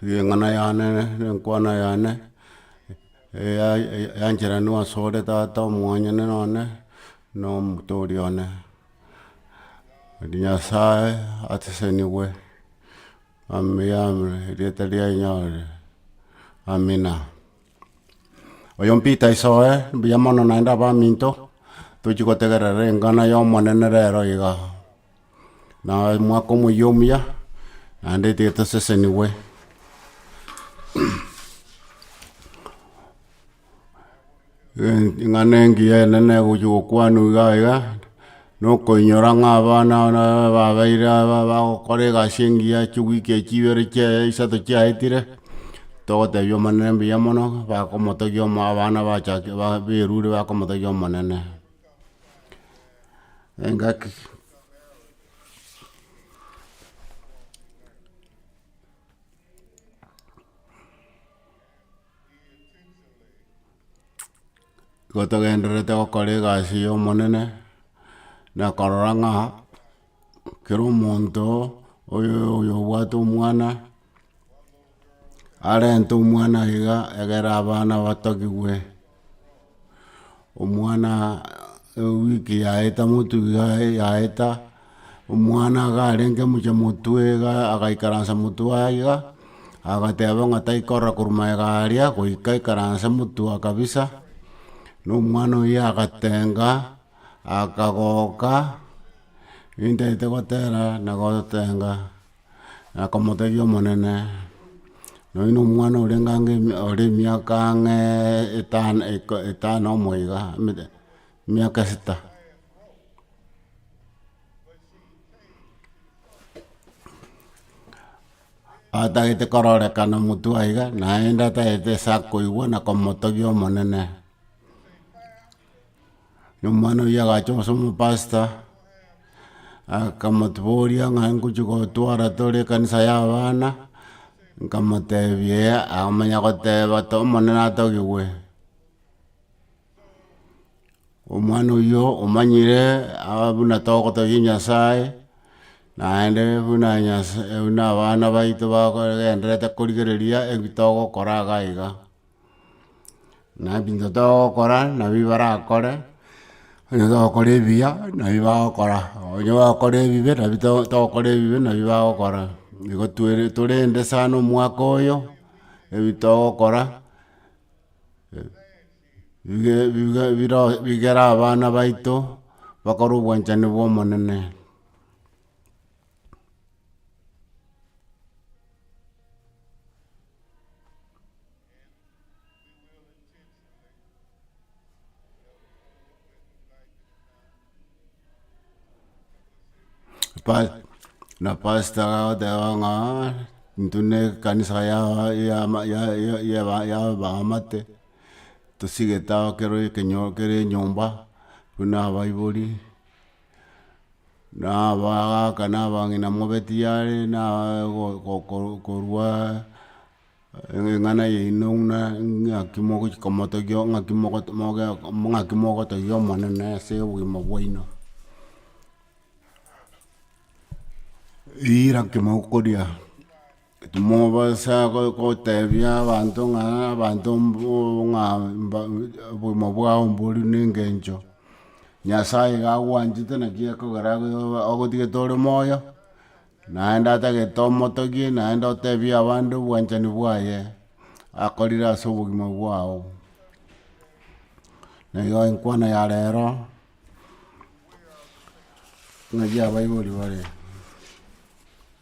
Ring'ana yane nenkwana yane, yancheranwa asore tata omwanyene none, na omotooria one. Nyasaye asesenigwe, erieta riaye rinyarire, amina. Oyo mpita isoe, mbuya mono naende abaminto, tochi gotegerera ring'ana ya omonene rero iga. Na omwaka omoyia omuya, naende etiga tosesenigwe. Eng'ana engiya enene gochia gokwanwa iga iga, na okoinyora ng'a abana babeire aba bagokora egasi engiya chiwiki echi ibere chiaye isato chiaetire, togotebia omonene mbuya mono, bakomotogia omo abana bachaki ba- bairure bakomotogia omonene. Engaki. Igo togendererete gokora egasi y'Omonene, na korora ng'a. kera omonto oyobwate omwana, arente omwana iga egere abana batogigwe, omwana ewiki yaeta amotu iga yaeta, omwana iga arenge mocha motwe iga agaikaransa motwe aye iga, agateba ng'a tai korora korwa magega aria, goika aikaranse motwe kabisa, na omwana oyio agatenga. Akagoka, intete gotera na gotenga, na komotebia Omonene, nonya nomwana oria ngange ore emiaka ang'e etano iko etano omoiga, emete emiaka esita. atagete kororekana motwe aiga, naende atagete ase akoigwa na komotebia Omonene. Rirorio omwana oyio agacha ase omopasta, akamoboria ng'a ngochia gotwara tore ekanisa ya abana, nkamotebia eeh, akamanya goteba to omonene atogigwe. Omwana oyio omanyire aa buna togotebia nyasae, naende buna nyasa buna abana baito bagogendererete korigereria ebi togokora iga iga. Naye binto togokora nabi barakore, onye togokora ebiya nabi bagokora, onye bagokora ebibe nabi to togokora ebibe nabi bagokora, nigo twere torende sana omwaka oyo, ebi togokora, bige bige biro bigere abana baito bakore obwanchani bwa omonene. Pa- na pasta agoteba ng'a intwe ne ekanisa ya yama ya- ya- yaba- yabaamate, tosigete ao kero ekenyo kera enyomba buna abaibori. na abagaaka na abang'ina mobe tiyare na korwa eng'ana yaino buna ng'aki mogochi komotogia ng'aki ng'aki mogotogia omonene ase obogima bwaino. Riira ki mokoria. Timobasa goteebia abanto ng'a abanto ng'a obogima bwao mbori buna engencho, Nyasae iga agwanchete naki ekogera agotigete ore moyo, naende atagete omotogie naende oteebie abande obwanchani bwaye, akorire ase obogima bwao. Nero enkwana ya rero, ng'aki abaibori bare.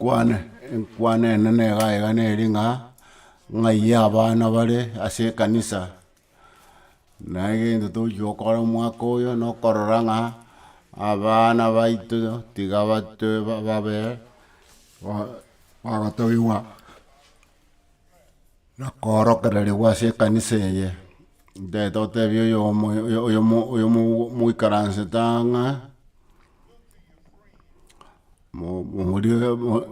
Kwane enkwana enene iga iga nere ng'a ng'ayie abana bare ase ekanisa, na egento togochi gokora omwaka oyo na okorora ng'a abana baito tiga bato babe ba- bagotogigwa. na koorokereria igwa ase ekanisa eye, ntaete gotebia oyomo oyomo oyomo moikaransete aa ng'a mo- mo-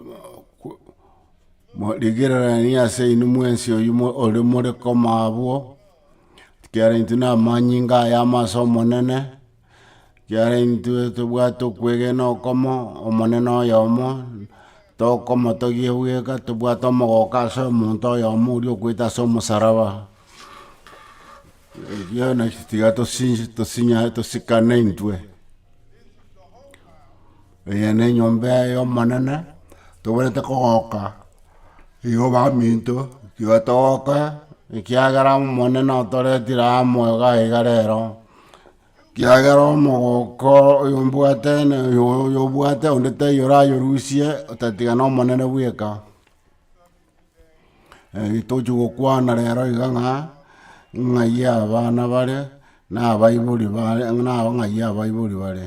mo- rigirereria ase inwe mwensi oywo mo ore more koma abwo, ekiagera intwe na amanyinga aya amo ase omonene. Kiagera intwe tobwate okwegena okomo, omonene oyomo, tokomotogia bweka, tobwate omogoka ase omonto oyomo oria okoita ase omosaraba, erio naki tiga tosinche tosinye tosikane intwe, eye ne enyomba eye ya omonene, toboyete kogoka igo baminto, tiga togoke ekiagera omonene otoretire amo iga iga rero. Kiagera omogoko oyombwate na oyo- oyobwate onde taiyo orayorusie, otatiga nomonene bweka. Egi tochi gokwana rero iga ng'a, ng'ai abana bare, na abaibori bare na ng'ai abaibori bare.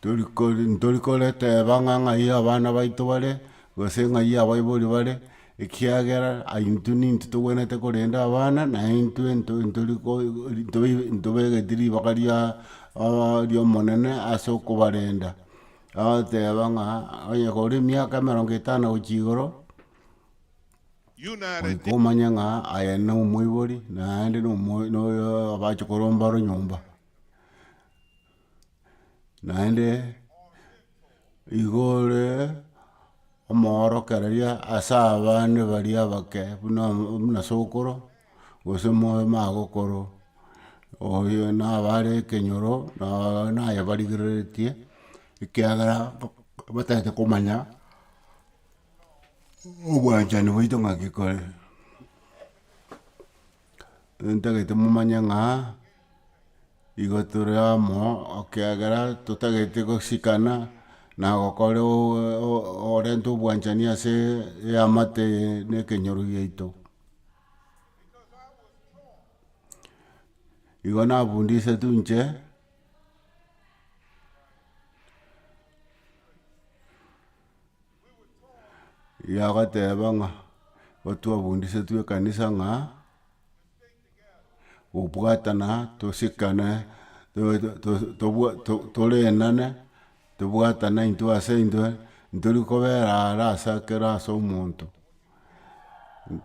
Torikori, ntori koreteba ng'a ng'ai abana baito bare, gose ng'ai abaibori bare, ekiagera aye intwe nintwe togwenerete korenda abana, na intwe nto ntori ko ntoibe ntobegeti ribaga ria aa ri'omonene ase okobarenda, agoteba ng'a onye kore emiaka emerongo etano gochia igoro, goika omanye ng'a aye nomoibori, naende nomo noyo abachia koromba ronyomba. Naende igore omoorokereria ase abande baria abake buna buna sokoro, gose omogokoro, oyo nabo are ekenyoro, nabo naye barigereretie, ekiagera batagete komanya obwanchani bwaito ng'aki kore. Ntagete momanye ng'a igo tore amo ekiagera totagete gosikana na gokora orente obwanchani ase eamate eye ne ekenyoro giaito. Igo nabundisetwe inche Yagoteba ng'a otwabundisetwe ekanisa ng'a gobwatana tosikane torenane tobwatane intwe ase intwe ntori kobera are ase kera ase omonto.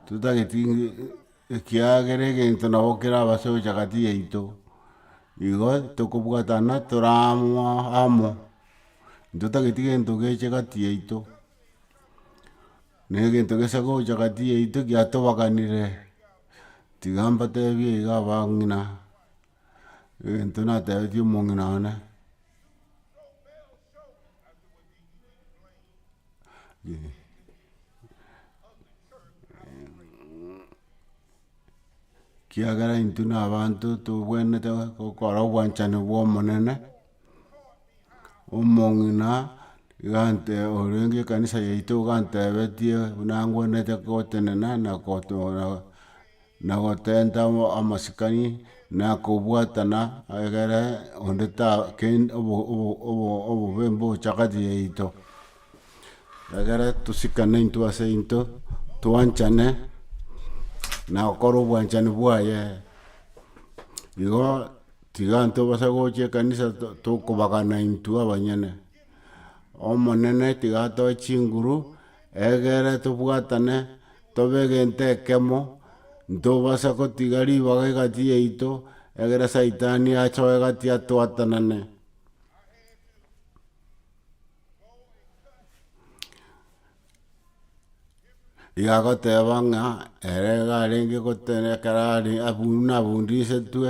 Totageti ekiagera egento nabo keraba ase gocha gati yaito, igo tokobwatana tore amo amo. Intotageti gento geche gati yaito, negento gesa gocha gati yaito giatobaganire, tiga mbatebie iga abang'ina, egento natebetie omong'ina one, kiagera intwe na abanto tobwenerete gokora obwanchani bw'omonene. omong'ina gante orenge ekanisa yaito ogantebetie buna ngwenerete gotenena na na gotenta amasikani na kobwatana egere onde ta kend obo obo obo obobe mbobe chakaati yaito egere tosikane intwe ase intwe twanchane na gokora obwanchani bwaye igo Tiga ntobasa gocha ekanisa tokobagana intwe abanyene. Omonene tiga atoe chinguru egere tobwatane tobe egento ekemo, ntobasa gotiga ribaga egati yaito egere saitani asoe egati atwatanane. Igagoteba ng'a ere iga arenge gotera ekero are abu buna abundisetwe,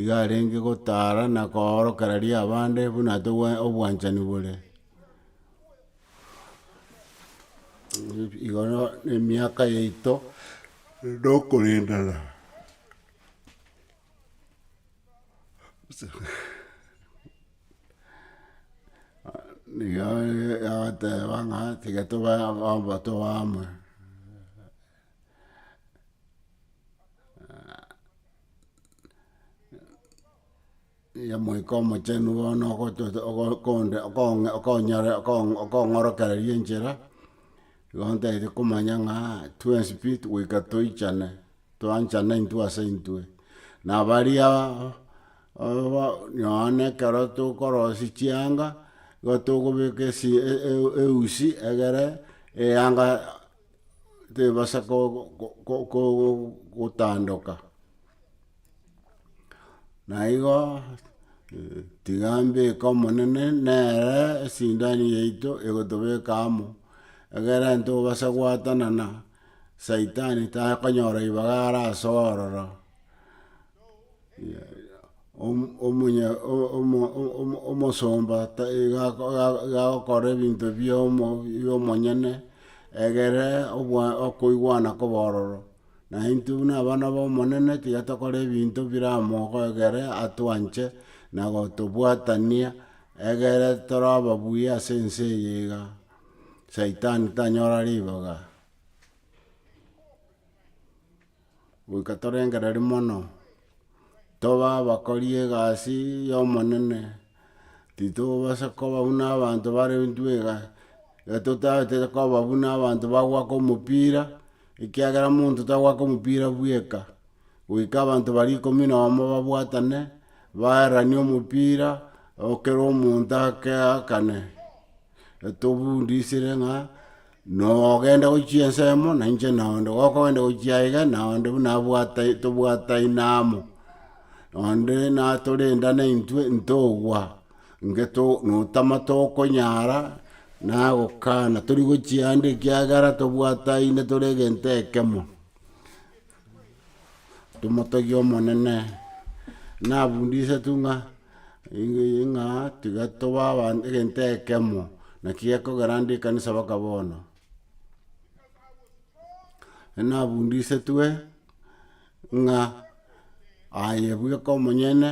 iga arenge gotara na koorokera riria abande buna togwa obwanchani bore. igo no- emiaka yaito nokorendana. nigo yagoteba ng'a tiga tobe abanto bamwe nigo omoika omochenu bono ogototo okonde okong'a okonyore okong okong'orokereria enchera, igo ntagete komanya ng'a twensi pi goika toichane. Toanchana intwe ase intwe, na baria nonye ekero tokorosia chianga, nigo tokobeka esi eusi egere eyanga tebasa gotandoka. Na igo tiga mbeke omonene nere esindani yaito egotobeka amo, egere ntobasa gwatanana. Saitani takonyora ribaga are ase ororo, omo- omonye o- omo- omo- omosomba ta- iga ako- iga- iga agokora ebinto bia omo- bia omonyene, egere obwa okoigwana kobe ororo, naintwe buna abana ba omonene tiga tokore ebinto biramogo egere atwanche na gotobwatania, egere toroba buya ase ense eye iga. Saitani tanyora ribaga, goika torengereria mono, tobe abakori egasi ya omonene, titobasa koba buna abanto bare intwe iga, iga totaete koba buna abanto bagoaka omopira, ekiagera monto tagoaka omopira bweka, goika abanto baria ikomi na omo babwatane, baeranie omopira, o- kera omonto ake aakane. etobundisire ng'a nogenda gochia ensemo na inche na onde gokogenda gochia aiga na onde buna abwate tobwataine amo, onde natorendane intwe ntogwa inge to notama tokonyara nagokana tori gochia ande ekiagera tobwataine tore egento ekemo. Tomotogie Omonene. Nabundisetwe ng'a ng'a tiga tobe abanto egento ekemo, naki gekogera nde ekanisa mpaka bono. Nabundisetwe ng'a aye bweka omonyene.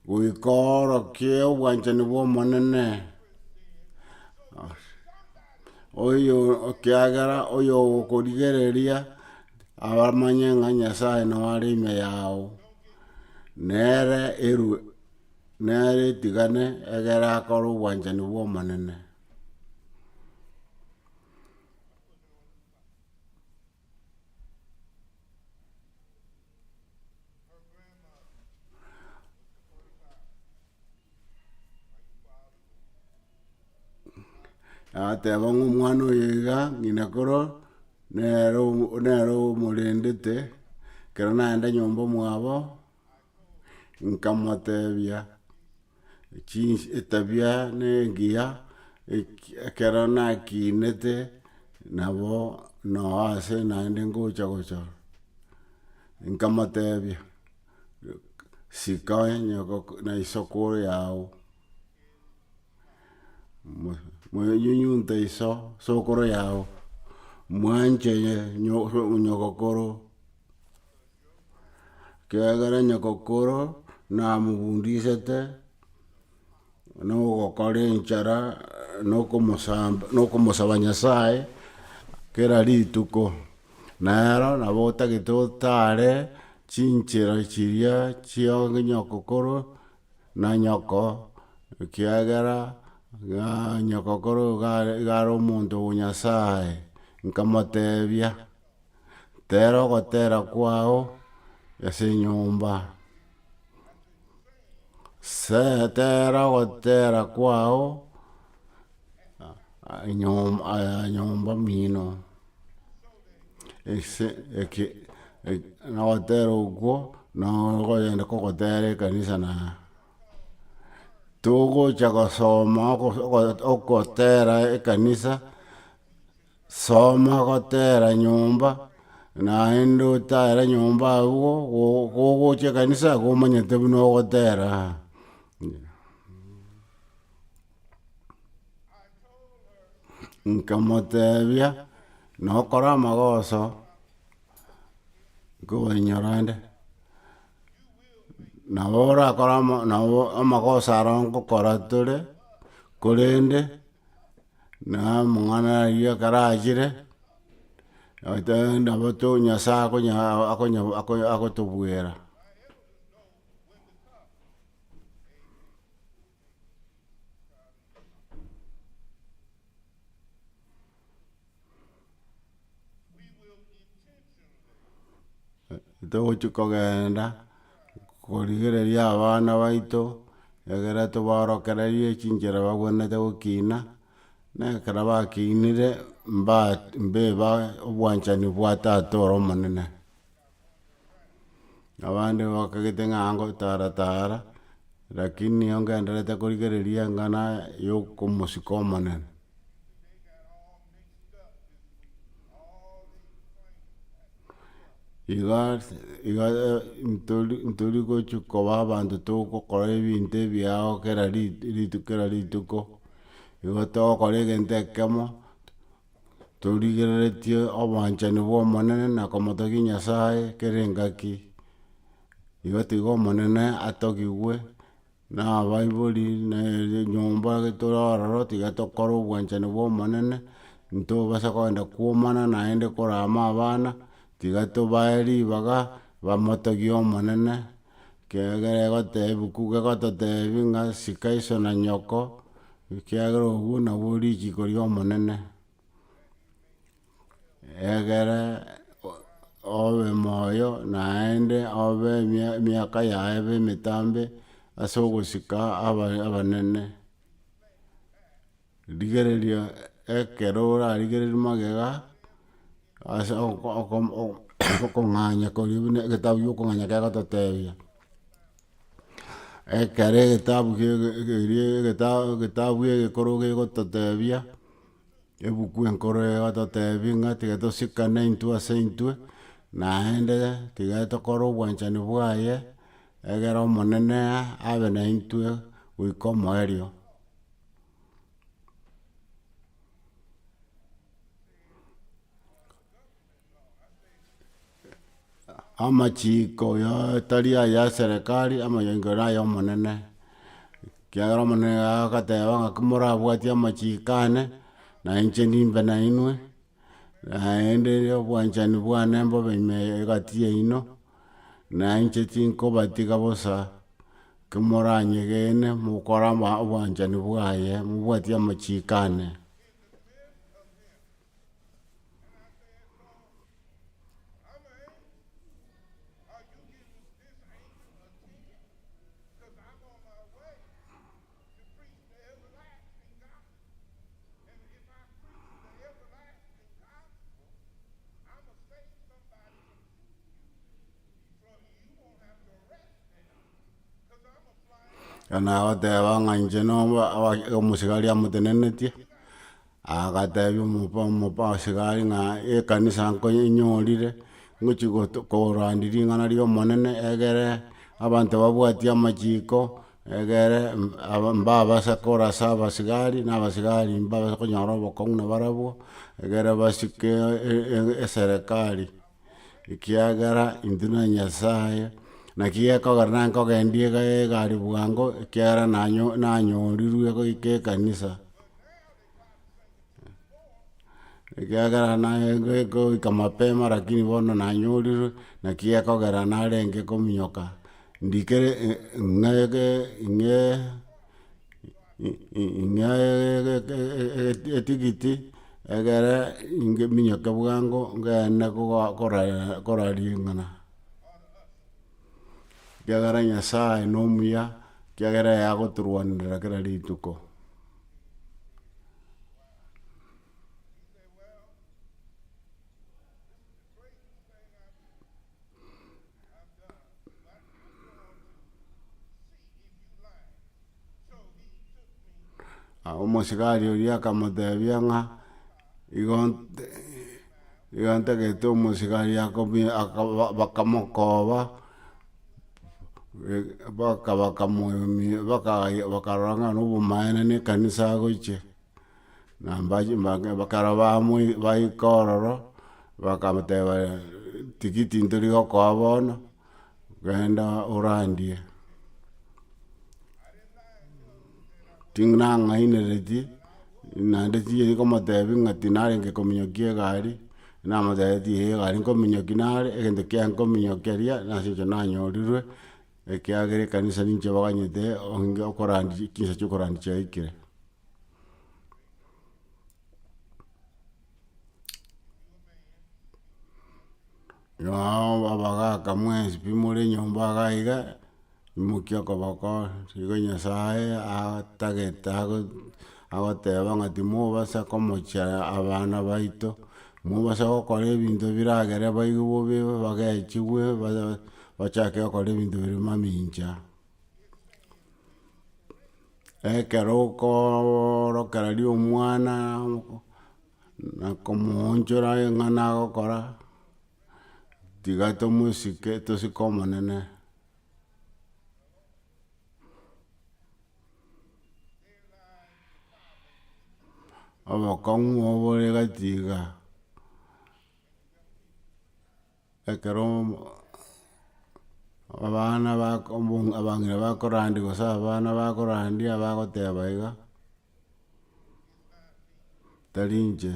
Goika oorokie obwanchani bw'Omonene, oyo, ekiagera oyogokorigereria amanye ng'a Nyasae noo are ime yao, nere eru, nere etigane egere akore obwanchani bw'Omonene. Agateba ng'a omwana oyo iga, ng'ina koro nere omo- nere omorendete, ekero naenda nyomba mwabo. nkamotebia, chinsi etabia ne engiya, eki ekero nakinete nabo noo ase naende ngocha gochora, nkamotebia sika onye goko na isiko yao, mo monyunyunte iso sokoro yao, mwanche nyo nyogokoro. ekiagera nyokokoro namobundisete nogokora enchara nokomosamba nokomosaba nyasaye kera rituko, nero nabo otagete otare chinchera chiria chia nyokokoro na nyoko, ekiagera nyokokoro iga igare omonto o nyasaye, nkamotebia. Tera ogotera kwao ase enyomba, se- tera ogotera kwao enyom- nyomba mino, ase eke na ogotera okwo na okoyenda kogotera ekanisa na togocha gosoma ogo- ogo- ogotera ekanisa Soma gotera nyomba, naende otare nyomba agwo, go- gogocha ekanisa iga omanyete buna ogotera. Nkamotebia, nokora amagoso, nkobahinyora nde, nabo orakore ama- nabo amagoso aria nkokora tore, korende, Na amang'ana ayio ekero achire, nabo to Nyasae akonya akonya akonya agotobwera. Togochia kogenda korigereria abana baito, egere tobaorokererie chinchera bagwenerete gokina, na ekero bakinire mba mbiba obwanchani bwa tata ore omonene. abande bakagete ng'a ngotara tara, rakini nigo ngenderete korigereria eng'ana ya omosiko omonene. Iga ase iga ntori ntori gochia koba abanto togokora ebinto ebiao kera ri- rituko kera rituko, igo togokora egento ekemo, torigereretie obwanchani bw'Omonene na komotogia Nyasae kera engaki, igo tiga Omonene atogigwe na abaibori na enyomba tore ororo tiga tokore obwanchani bw'Omonene, ntobasa kogenda kwomana naende korama abana, tiga tobae ribaga bamotogie Omonene. Ekiagera egotebi ku gegototebi ng'a sika iso na nyoko, ekiagera obwo nabwo richiiko ri'Omonene. Egere obe moyo naende obe emia- emiaka yaye ebe emetambe as'ogosika aba- abanene. Rigereria ekero orarigereria magega ase okong'anya koria buna egetabu kia okong'anya kegototebia. Ekero egetabu keria egetabu egekoro kegototebia, ebuku enkoro egototebia ng'a tiga tosikane intwe ase intwe, naende tiga tokore obwanchani bwaye, egere omonene abe naintwe goika omoerio. amachiiko ya atari aya eserekari, amayengo ere aya omonene, ekiagera omonene agateba ng'aki morabwati amachiiko ane, na inche nimbe nainwe, naende obwanchani bwane mbobe ime egati yaino. na inche tinkobatiga bosa, kimoranyegene mokora ama obwanchani bwaye, mobwatie amachiko ane. Nagoteba ng'a inche no omosigari amotenenetie, agatebia omopa omopa osigari ng'a ekanisa nkonyorire, ngochi gotu korandia ring'ana ri'omonene egere abanto babwati amachiko. Egere mbabase korasa abasigari, na abasigari mbabase konyora obokong'u na barabwo, egere basike eserekari, ekiagera intwe na Nyasaye, naki gekogera na nkogendia egari bwango, ekiagera nanyo nanyorirwe goika ekanisa. Ekiagera naye go- goika mapema lakini bono nanyorirwe, naki gekogera narenge kominyoka ndikere e- e- ng'ege ing'e i- i- ing'e etigiti egere inge minyoke bwango ngende koba kora kora ring'ana. Ekiagera nyasaye nomuya, ekiagera yagotorwanerera kera rituko. Omosigari oria akamotebia ng'a. Igo ntagete omosigari bakamokoba, bakarora ng'a na obomaene na ekanisa agochia, na ekero baika ororo, bakamoteba tigiti ntori gokoa bono, Genda orandie. Ting'nang'ainereti, naende chiayi komotebi ng'a tinarenge kominyoki egari, namotebeti ee egari nkominyoki nare, egento kia nkominyokia eria nase eng'encho nanyorirwe, ekiagera ekanisa ninche baganyete onge okorandia chinsa chia okorandia chiaikire. Nao abagaka mwensi pi more nyomba iga iga, imokia okoboko, rigo nyasaye atagete ago agoteba ng'a timobasa komocha abana baito, mobasa gokora ebinto biragere baibo bobe bagechigwe babe bachake gokora ebinto bire mamincha. Ekero okoorokera riria omwana na komoonchora aye ng'a nagokora, tiga tomosike tosike omonene. Obokong'u obore gati iga. Ekero abana bako abong- abang'ina bakorandia gose abana bakorandia bagoteba iga, tari inche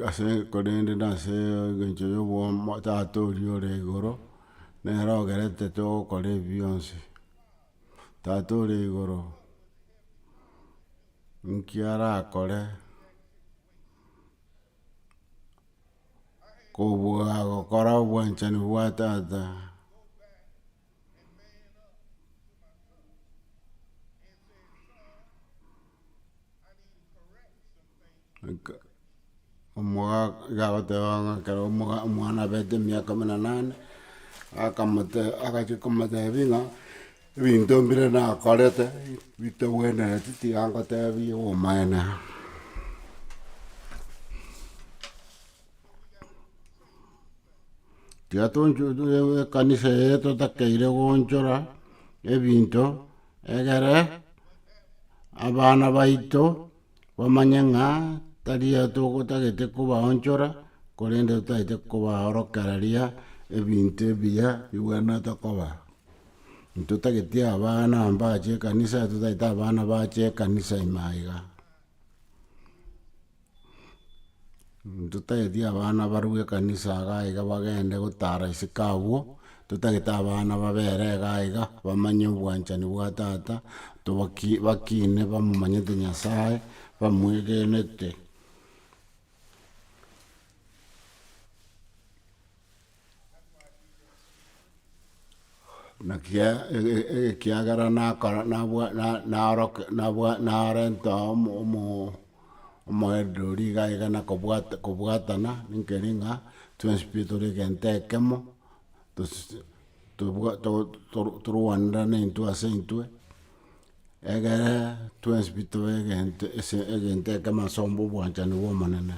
ase korende nase egencho ya obwamo tata oria ore igoro, nere ogerete togokora ebi bionsi. Tata ore igoro, nki arakore. kobua gokora obwanchani bwa tata omogaka iga agoteba ng'a ekero omoga omwana abete emiaka emenanane, akamoteba agachia komotebi ng'a. Ebinto mbire nakorete bitagwenereti, tiga ngoteebie obomaene. Tiga tonchorere ekanisa eye totakeire gonchora ebinto egere abana baito bamanye ng'a tari aya togotagete kobaonchora korende totaete kobaorokereria ebinto ebiya bigwenerete koba. Intotageti abana mbache ekanisa, totagete abana bache ekanisa ime aiga. Intotageti abana barue ekanisa iga aiga bagende gotara isiko abwo, intotagete abana babere iga aiga bamanye obwanchani bwa tata, tobaki bakine bamomanyete Nyasaye, bamwegenete. Naki e- e- e- ekiagera nakora- nabwa- na- naroke- nabwa- narenta omo- omo- omoendereri iga iga na kobwata kobwatana nkeri ng'a twensi pi tore egento ekemo, tosi- tobwa to- to- torwanera intwe ase intwe. Egere twensbi tobe egento ase egento ekemo ase omba obwanchani bw'Omonene.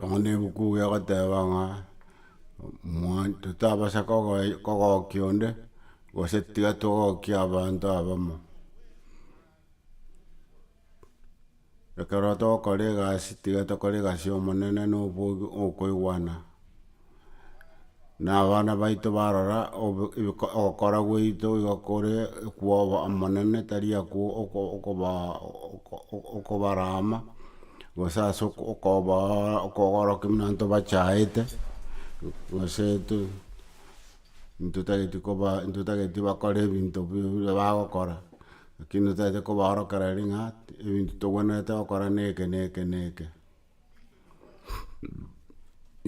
Nonya ebuku iga egoteba ng'a, mwane totabasa kogoe kogokia onde, gose tiga togokia abanto abamo. Ekero togokora egasi, tiga tokore egasi ya omonene na oboigo na okoigwana. na abana baito barora obo- ebiko- ogokora gwaito igo kore ekwoba omonene tari aku oko- okobaa oko- oko- okobarama, gose ase oko- okobaa okogorokia buna abanto bachaete, gose intwe intwe totageti koba intwe totageti bakore ebinto bi- bi- bire bagokora, lakini totagete kobaorokera riria ng'a ebinto togwenerete gokora na eke na eke na eke.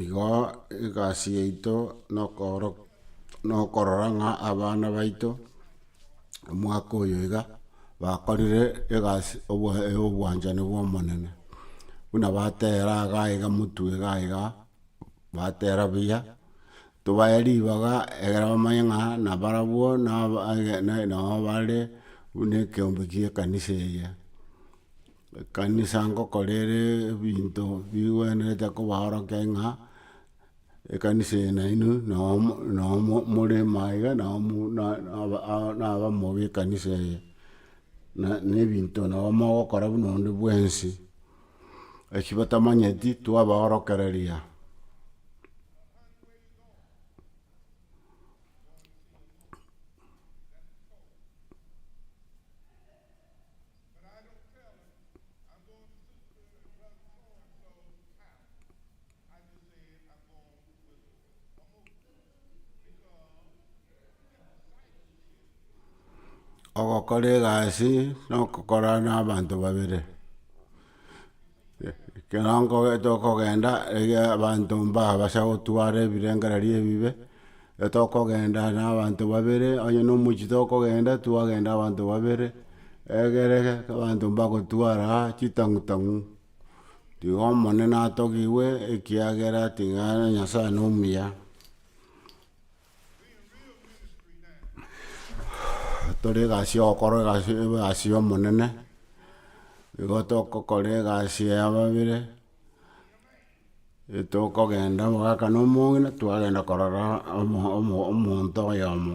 Igo egasi yaito na okorora ng'a abana baito omwaka oyo iga bakorire egasi ya obwanchani bwa omonene, buna batera iga iga motwe iga iga, batera buya, tobae ribaga egere bamanye ng'a nabarabwo nabo bare buna ekeombe gie ekanisa eye. Ekanisa ngokora ere ebinto bigwenerete kobaorokia ng'a ekanisa eye nainwe noo mo noo mo morema iga nao mo na na abamo b'ekanisa eye. Na na ebinto nabo mogokora buna onde bwensi, eki batamanyeti twabaorokereria. Ogokora egasi, nokokorana na abanto babere. Ekero nkoge tokogenda iga abanto mbabasa gotwara ebirengererio ebibe, ekero tokogenda na abanto babere onye na omochie tokogenda, twagenda abanto babere, egere abanto mbagotwara chitang'u tang'u, tiga omonene atogigwe ekiagera tiga Nyasaye nomuya. tore egasi y'ogokora egasi egasi y'omonene, nigo togokora egasi ya babere, etogokenda omogaka na omong'ina, twagenda korora omo- omo- omonto oyomo.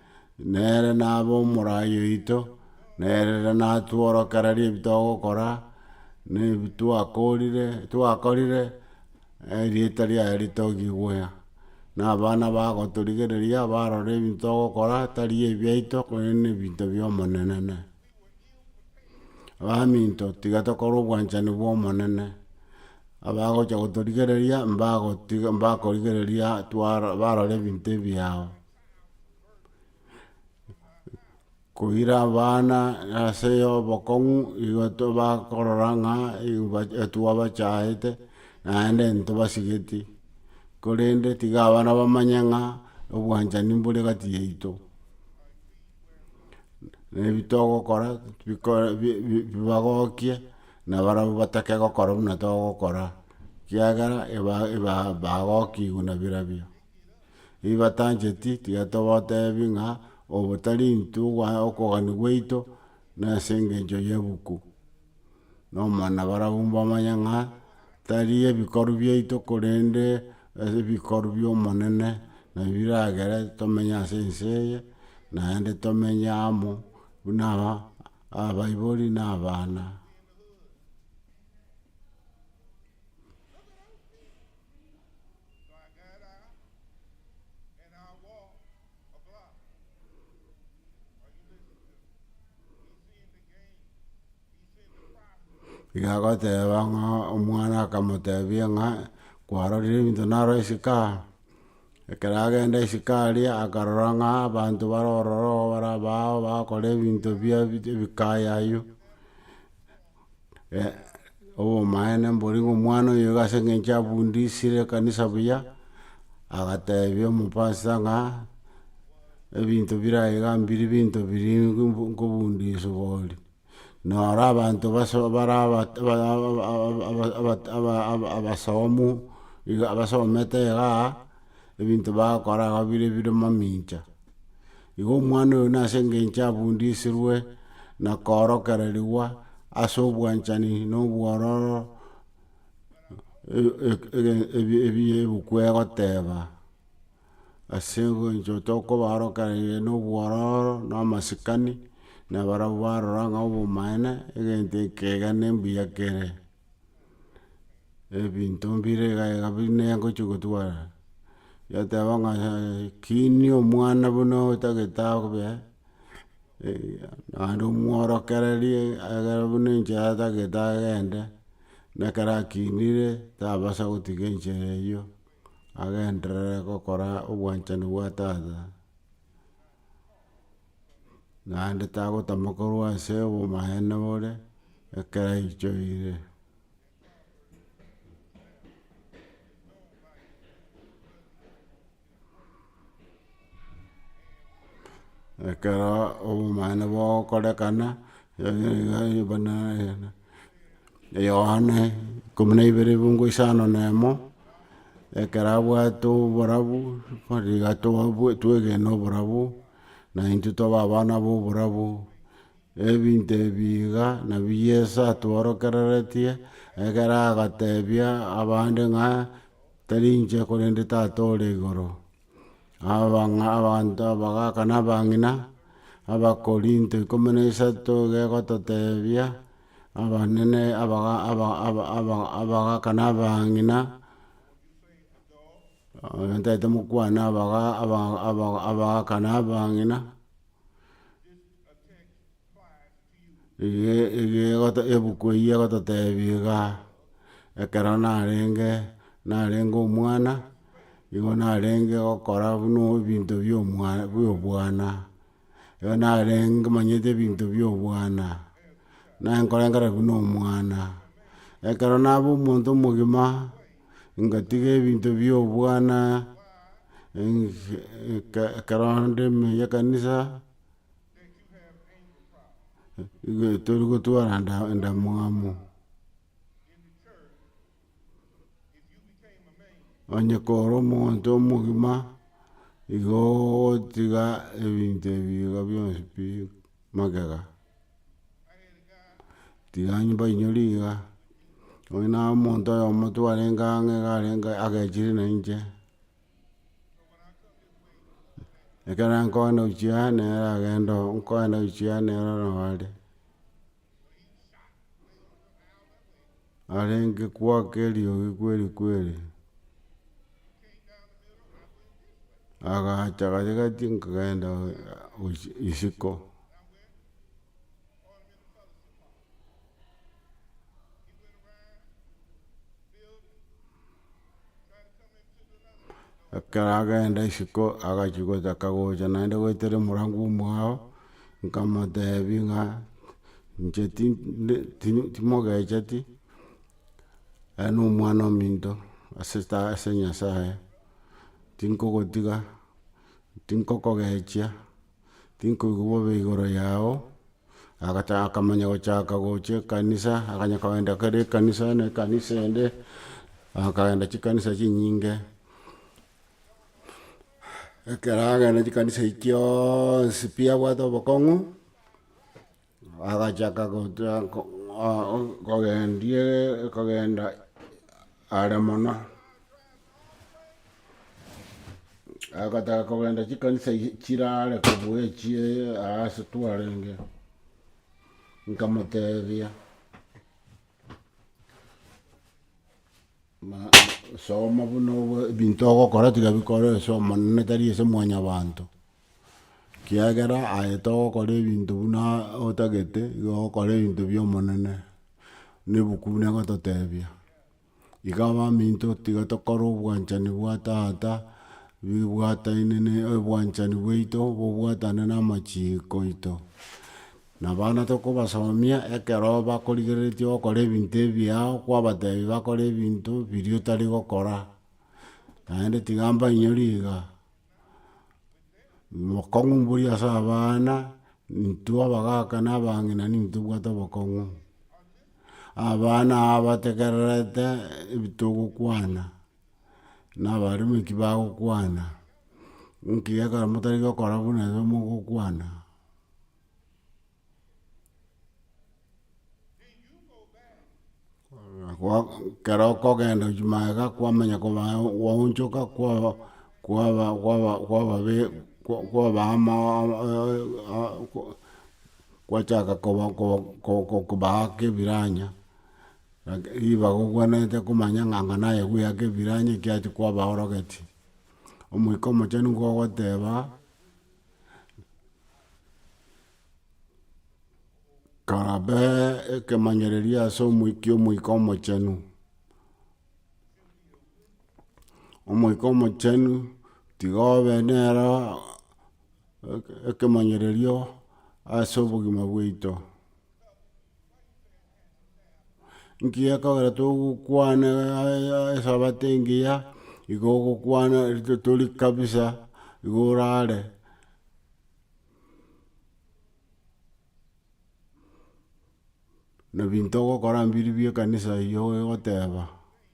Nere nabe omorai oito, nerere natworokererie ebi togokora, na ebi twakorire twakorire, erieta riaye ritogigwe. Na abana bagotorigereria barore ebinto togokora tari ebiaito korende ebinto bia Omonenene. Baminto tiga tokore obwanchani bwa Omonene, abagocha gotorigereria mbagotiga mbakorigereria twara barore ebinto ebi yao. Koira abana ase obokong'u igo tobakorora ng'a twabachayete naende ntobasigeti korende tiga abana bamanye ng'a obwanchani mbore gati yaito na ebi togokora bikore bi bi bibagokie na barabwo batake gokora buna togokora kiagera eba eba bagokigwa na birabio. Ebi batancheti tiga tobatebi ng'a obo tari intwe okogania gwaito na ase engencho y'ebuku. Na omwana barabwo mbamanye ng'a tari ebikoru biaito korende ase ebikoru bi'omonene nabio biragere tomenye ase ense eye naende tomenye amo buna abaibori na abana. Twagera ere agwo okora oyuge esike, isindike ime, isindike ase. Iga agoteba ng'a omwana akamotebia ng'a kwarorire ebinto naroo esike aa, ekero agenda esike aria akarora ng'a abanto bare ororo iga bare abao bagokora ebinto bia ebikayi aywo, obomaene mbori ng'a omwana oyo iga ase eng'encho abundisire ekanisa buya, agatebia omopasta ng'a ebinto bire aye iga mbiri binto biri nkobundiswa oria. Naro abanto base bare abasomu iga abasomete igaa. ebinto bagokora agwo bire bire mamincha. Igo omwana oyo nase engencho abundisirwe na koorokererigwa ase obwanchani na obwororo ebuku egoteba, ase engencho tokobaorokereria na obwororo na amasikani, na barabwo barora ng'a obomaene egento ekega ne mbuya kere. ebinto mbire iga iga bi nengochia gotwara, yateba ng'a yaya kini omwana buna otagete abe, naende omworokererie egere buna enchera atagete agende, na ekero akinire tabasa gotiga enchera eyio, agenderere gokora obwanchani bwa tata. naende tagotama korwa ase obomaene bore, ekero aichoire. Ekero obomaene bwao okorekana, Yohana ikomi na ibere ebuongo isano na emo, ekero abwate oborabu, riga twegena oborabu. na intwe tobe abana b'oborabu. Ebinto ebi iga nabio Yeso atworokereretie ekero agatebia abande ng'a, Tari inche korende Tata ore igoro. Abang'a abanto abagaka na abang'ina, Abakorinto ikomi na isato iga egototebia, abanene abaga aba- aba- aba- abagaka na abang'ina. Ntaete mokwane abagaka na abang'ina, ebuku eyio egototebia iga, ekero narenge, narenge omwana, nigo narenge gokora buna ebinto bia obwana. Igo narenge manyete ebinto bia obwana, naye nkorengera buna omwana, ekero naba omonto omogima, ngatiga ebinto bia obwana, ekero nde meyia ekanisa, igo tori gotwara enda- endamwamu. Onye kore omonto omogima, igo ogotiga ebinto ebi iga bionsi pi magega, tiga nyomba enyori iga, onya na omonto oyomo twarenge ang'e iga arenge agechire na inche, ekero nkogenda gochia nere agende oo, nkogenda gochia nere ororo are. arenge kwake eriogi kweri kweri, agacha gati gati nkagenda isiko, Ekero agenda isiko agachia gotaka gocha naende goetera omorango omwao, nkamotebia ng'a inche ti ndi timogecheti, aye na omwana ominto ase ta ase nyasaye, tinkogotiga, tinkokogechia. tinkoigwa bobe igoro yao, agata akamanya gochaka gochia ekanisa, akanya kogenda kera ekanisa na ekanisa ende, akagenda chikanisa chinyinge, ekero agenda chikanisa echi chionsi pi abwate obokong'u. Agachaka kogenda are mono, agataka kogenda chikanisa chire are kobua echie aase twarenge, nkamotebia soma buna obwe ebinto ogokora tiga bikore ase Omonene tari ase mwanyabanto. Kiagera aye togokora ebinto buna otagete, igo ogokora ebinto bia Omonene, na ebuku buna egototebia. Iga abaminto tiga tokore obwanchani bwa tata, bibwataine ne obwanchani bwaito bobwatane na amachiiko aito. Na abana tokobasomia ekero bakorigereretie gokora ebinto ebiya kwabatebia bakore ebinto biria otari gokora, naende tiga mbainyorie iga. bokong'u mbori ase abana, intwe abagaka na abang'ina nigo tobwate obokong'u, abana aba bategererete ebi togokwana, na abarume eki bagokwana, nki ekero motarenge gokora buna igo mogokwana. ekero okogenda echia magega kwamanya kobaa gwaonchoka kwaba kwaba kwaba kwaba be kwaba ama gwachaka koba koba koba kobaaka ebiranya, laki riba gokwenerete komanya ng'a anga naye goyaka ebiranya ekiagera kwaba orogeti. Omoika omochenu nigo ogoteba. Karabe ekemanyererio ase omoika kia omoika omochenu, omoika omochenu tiga obe nere ekemanyererio ase obogima bwaito. Nkiya ekabera togokwana esabato engiya, igo ogokwana rito tori kabisa igo orare. Na binto ogokora mbiri bie ekanisa eyio ogoteba.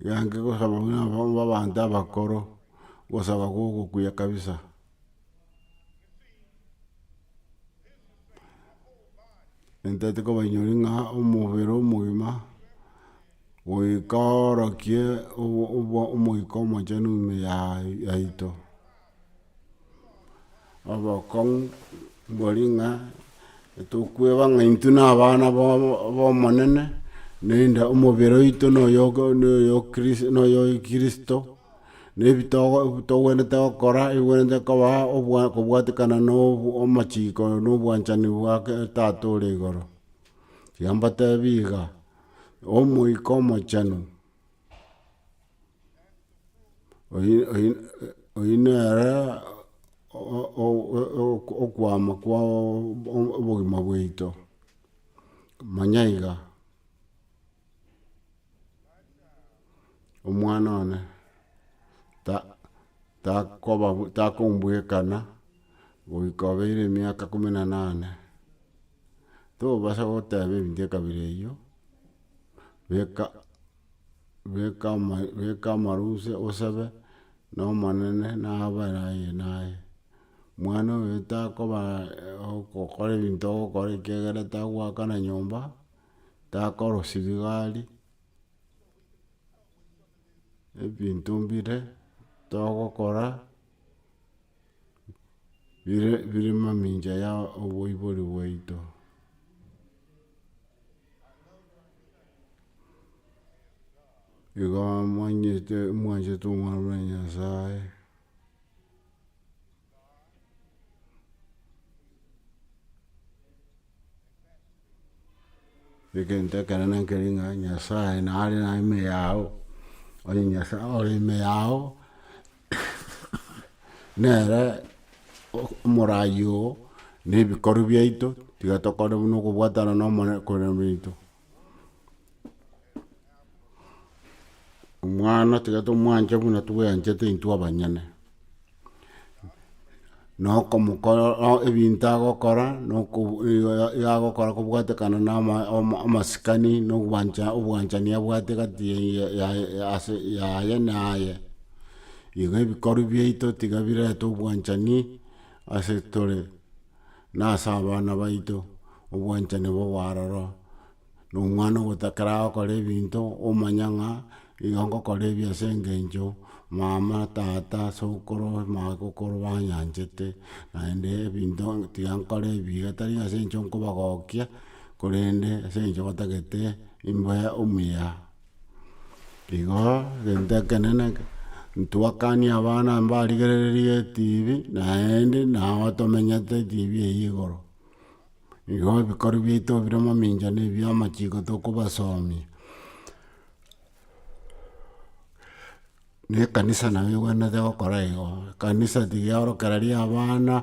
Iga inche ngosaba buna abwo abanto abakoro, ngosaba kwa ogokuya kabisa. Ntaete kobanyori ng'a omobere omogima, goika orokie obo- obo- omoika omochenu ime yaye yaito. Obokong'u mbori ng'a tokweba ng'a intwe na abana b'Omonene, naende omobere oito noyo noyo kristo, na ebi togwenerete gokora ebwenerete koba kobwatekana na amachiko na obwanchani bwa tata ore igoro. Tiga mbatebi iga, omoika omochenu. Oyi- oyi- oyio nere o- o- o- okwama kwa obogima bwaito, manya iga, omwana one ta- takoba takombwekana goika obeire emiaka ikomi na nane, tobasa goteba ebinto ekabira eyio, beka. beka ama- beka amaruse osebe, na Omonene nabere aye naye. Mwana oyo takoba ogokora ebinto ogokora ekiagera tagoakana nyomba, takorosia ebigari, ebinto mbire togokora bire mamincha ya oboibori bwaito. Igo mwanchete mwanchete omwana bwa nyasae Egento ekenene nkeri ng'a Nyasae nare na ime yao, onye Nyasae ore ime yao, nere omorayi oo, na ebikorwa biaito, tiga tokore buna okobwatana na omonene korembe intwe. Omwana tiga tomwanche buna tweanchete intwe abanyene, na okomokora ebinto agokora na agokora kobwatekana na ama- ama- amasikani na ogwancha obwanchani abwate egati ya- ya- ya ase yaye naye, igo ebikorwa biaito tiga birente obwanchani ase tore. Nase abana baito, obwanchani bobe aroro, na omwana ogotakera agokora ebinto, omanye ng'a igo ngokora ebi ase engencho mama, tata, sokoro, magokoro banyanchete, naende ebinto tiga nkore ebibe tari ase eng'encho nkobagokia, korende ase eng'encho batagete imbe omuya. Igo egento ekenene ntwakanie abana mbarigerererie etibi naende nabo tomenyete etibi eyio igoro. Igo ebikoro biaito bire mamincha ne bia amachiko tokobasomia. Ne ekanisa nabo ebwenerete gokora igo, ekanisa tiga yaorokera riria abana,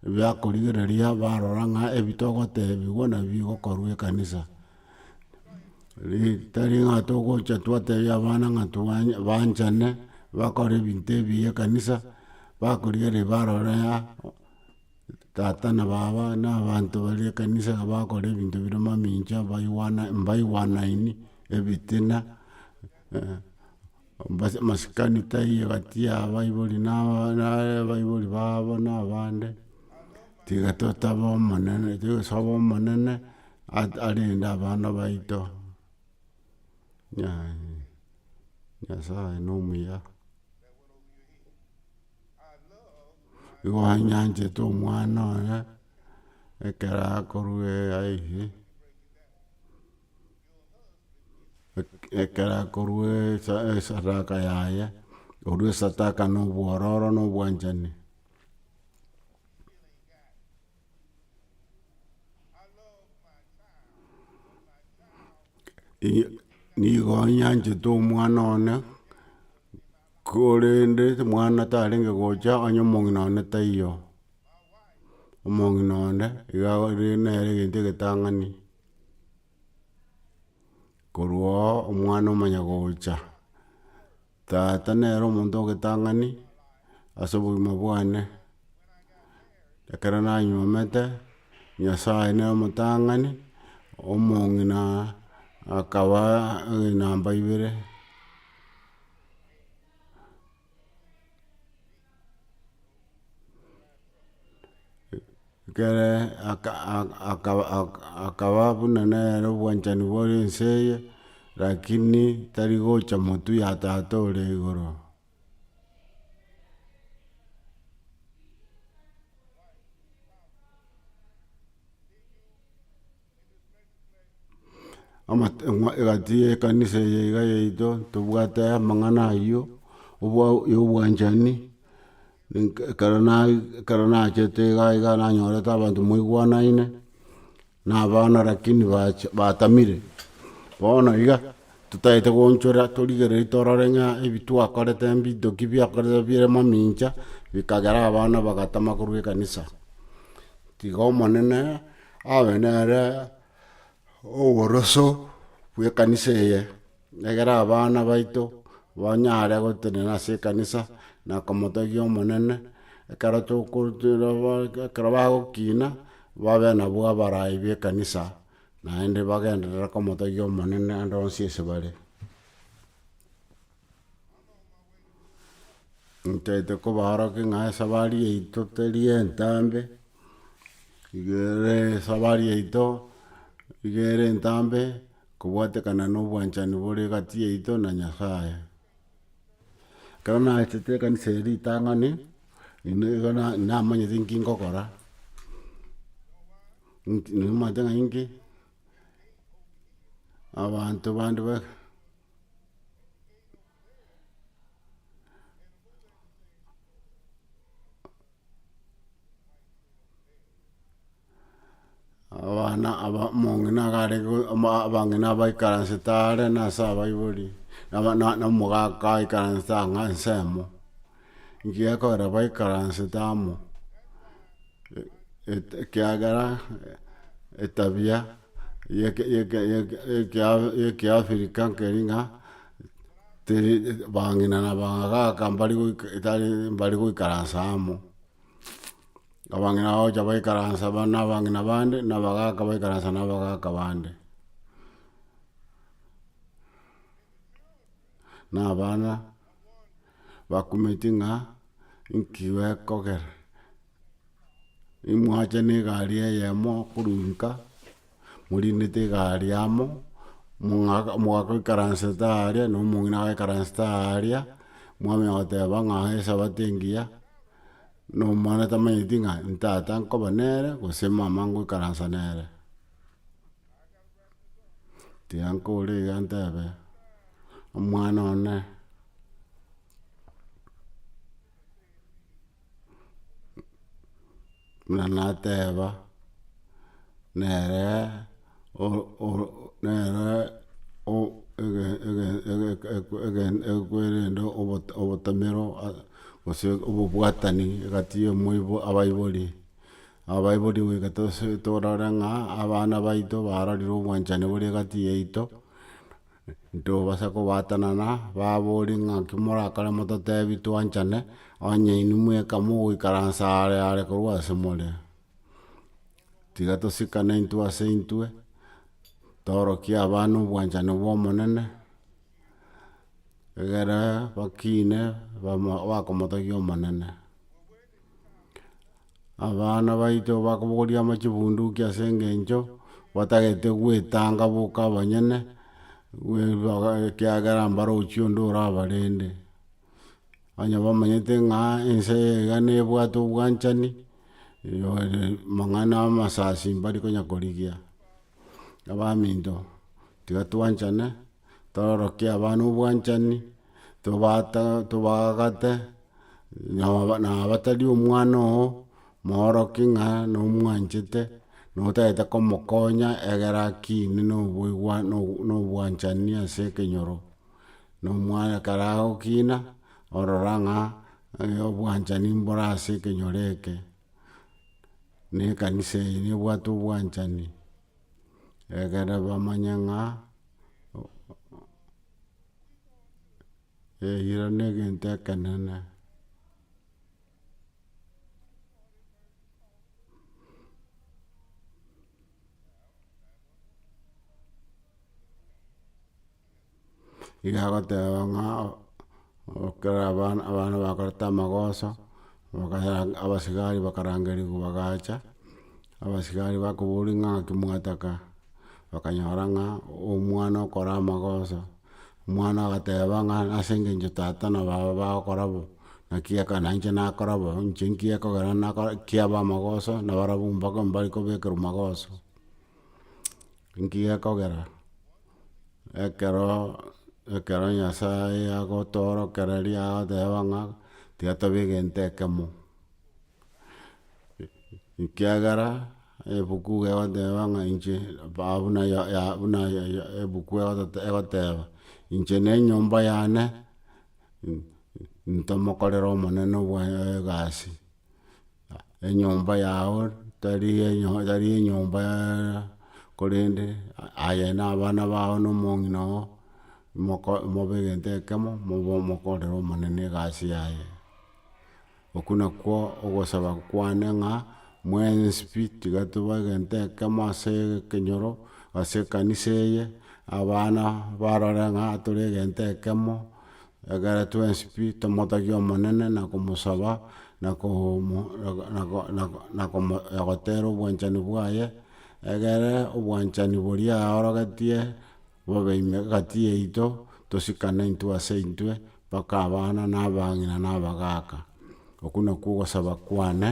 ebia korigereria barora ng'a ebi togotebigwa nabi egokorwa ekanisa. tari ng'a togocha twatebia abana ng'a twanye banchane, bakore ebinto ebiya ekanisa, bakorigereria barore ng'a tata na baba na abanto baria ekanisa iga bakora ebinto bire mamincha mbaigwana mbaigwanaini, ebitina. Mbase masikani taiyo egati y'abaibori na abaibori babo na abande, tiga totabe Omonene, tosobe Omonene arende abana baito. Nyasae nomuya. Nigo anyanchete omwana oye, ekero akorwa aiyie. ekero akorua esadaka yaye, orue esadaka na obwororo na obwanchani. Nigo nyanchete omwana one, korende omwana tarenge gocha onye omong'ina one taiyo. Omong'ina one iga nere egento egetang'ani. Korwa oo omwana omanya gocha, tata nere omonto ogetang'ani ase obogima bwane, ekero nanyuomete, Nyasaye nere omotang'ani, omong'ina akaba namba ibere. ekere aka- aka- aka- aka- akaba buna nere obwanchani bore ense eye, rakini tari gocha motwe ya tata ore igoro. egati y'ekanisa eye iga yaito, tobwate amang'ana ayio, obwa- ya obwanchani, ninka ekero nai ekero nachete iga iga nanyorete abanto mwaigwanaine, na abana lakini bacha batamire, bono iga, totaete gochora torigereiri torore ng'a ebi twakorete mbito ki biakorete bire mamincha, bikagera abana bagatama korwa ekanisa. Tiga omonene. Abe nere oboroso bw'ekanisa eye, egere abana baito banyare gotenena ase ekanisa na komotegia Omonene, ekero toko ekero bagokina babe nabo abarai b'ekanisa naende bagenderere komotegia Omonene ande onsi ase bare. Ntaete kobaorokia ng'a esabari yaito teri entambe, iga ere esabari yaito iga ere entambe kobwatekana na obwanchani bore egati yaito na Nyasaye. Ekero naetete ekanisa eye ritang'ani, nigo na- namanyete nki ngokora, nki namaete ng'a inki. abanto bande ba abana aba omong'ina iga are go- oma abang'ina abaikaransete are nase abaibori, naba na- na omogaka aikaransete ang'aa ensemo. ngiya ekogera baikaransete amo ekiagera etabia ye ekiafrika nkeri ng'a teri bang'ina na bagaaka mbari goika etari mbari goikaransa amo abang'ina bagocha baikaransa ba na abang'ina bande na abagaaka baikaransa na abagaaka bande. na abana bakumeti ng'a inki gekogera, imwachane egari eyemo korwa nka, morindete egari amo, mong'aka mogakoikaransete aria na omong'ina agaikaransete aria, mwamanya goteba ng'a esabato engiya, na omwana tamanyeti ng'a ntata nkoba nere gose mama ngoikaransa nere. Tiyankora iga ntebe omwana one buna nateba nere ekwerende obotomero gose obobwatani egati ya abaibori. Abaibori goika tose torore ng'a abana baito barorire obwanchani bore egati yaito, ntobasa kobaatanana, baborie ng'a naki morakore mototebi twanchane, onye inwe mweka mogoikaransa are are korwa ase more. Tiga tosikane intwe ase intwe, torokie abana obwanchani bw'Omonene, egere bakine bamo bakomotogia Omonene. Abana baito bakobogoria amache bunduki ase engencho batagete gwetanga boka abanyene, ekiagera mbarochi onde orabarende. Onye bamanyete ng'a ense eye iga nebwate obwanchani, mang'ana amasasi mbari konya korigia. Abaminto, tiga twanchane, tororokie abana obwanchani. tobaagate, nabatari omwana oo moorokie ng'a nomwanchete, na otagete komokonya egere akine na obwanchani ase ekenyoro, na omwana ekero agokina, orora ng'a obwanchani mbore ase ekenyoro eke, na ekanisa eye nebwate obwanchani, egere bamanye ng'a. Eyio negento ekenene iga agoteba ng'a. Ekero abana abana bakoreta amagoso, bakaya abasigari bakarangerigwa bagacha, abasigari bakobori ng'a ng'aki mwataka, bakanyora ng'a omwana okora amagoso, omwana agateba ng'a ase eng'encho tata na baba bagokora bo, naki aka na inche nakora bo, inche nkekogera nakora kiaba amagoso, nabarabwo mbaka mbare kobekerwa magoso. Nki gekogera ekero ekero Nyasaye agotoorokereria agoteba ng'a tiga tobe egento ekemo? Ekiagera ebuku egoteba ng'a inche aba- buna ya- ya buna ya ya ebuku egotote egoteba, inche na enyomba yane, ntomokorere Omonene obwa egasi. enyomba yao tari enyomba korende aye na abana bao na omong'ina oo mobe egento ekemo mokorere omonene egasi yaye okwo nakwo ogosaba kwane ng'a mwensi pi tiga tobe egento ekemo ase ekenyoro ase ekanisa eye abana barore ng'a tore egento ekemo. Ekero twensi pi tomotagia Omonene na komosaba na gotera obwanchani bwaye, egere obwanchani boria aorogetie bobe ime egati yaito, tosikane intwe ase intwe mpaka abana na abang'ina na abagaaka. Okwo nakwo ogosaba kwane,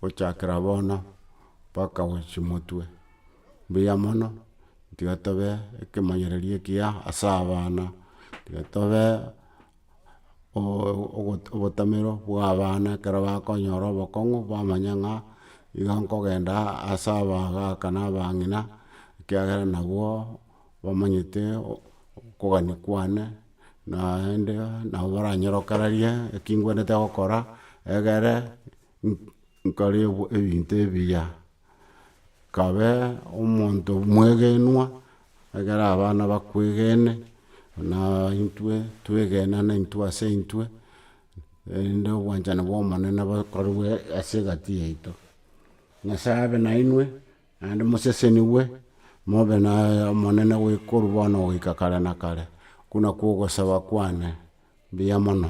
gochakera bono mpaka gochia motwe. mbuya mono, tiga tobe ekemanyererio ekiya ase abana, tiga tobe obotamero bwa abana ekero bakonyora obokong'u bamanye ng'a iga nkogenda ase abagaka na abang'ina ekiagera nabwo bamanyete okogania kwane naende nabo baranyorokererie ekingwenete gokora egere nkore ebinto ebiya. Kabe omonto omwegenwa, ekero abana bakwegene, na intwe twegenane intwe ase intwe, erinde obwanchani bwa Omonene bokorwe ase egati yaito. Nyasae abe nainwe, naende mosesenigwe, mobe na Omonene korwa bono goika kare na kare. Okwo nakwo ogosaba kwane. Mbuya mono.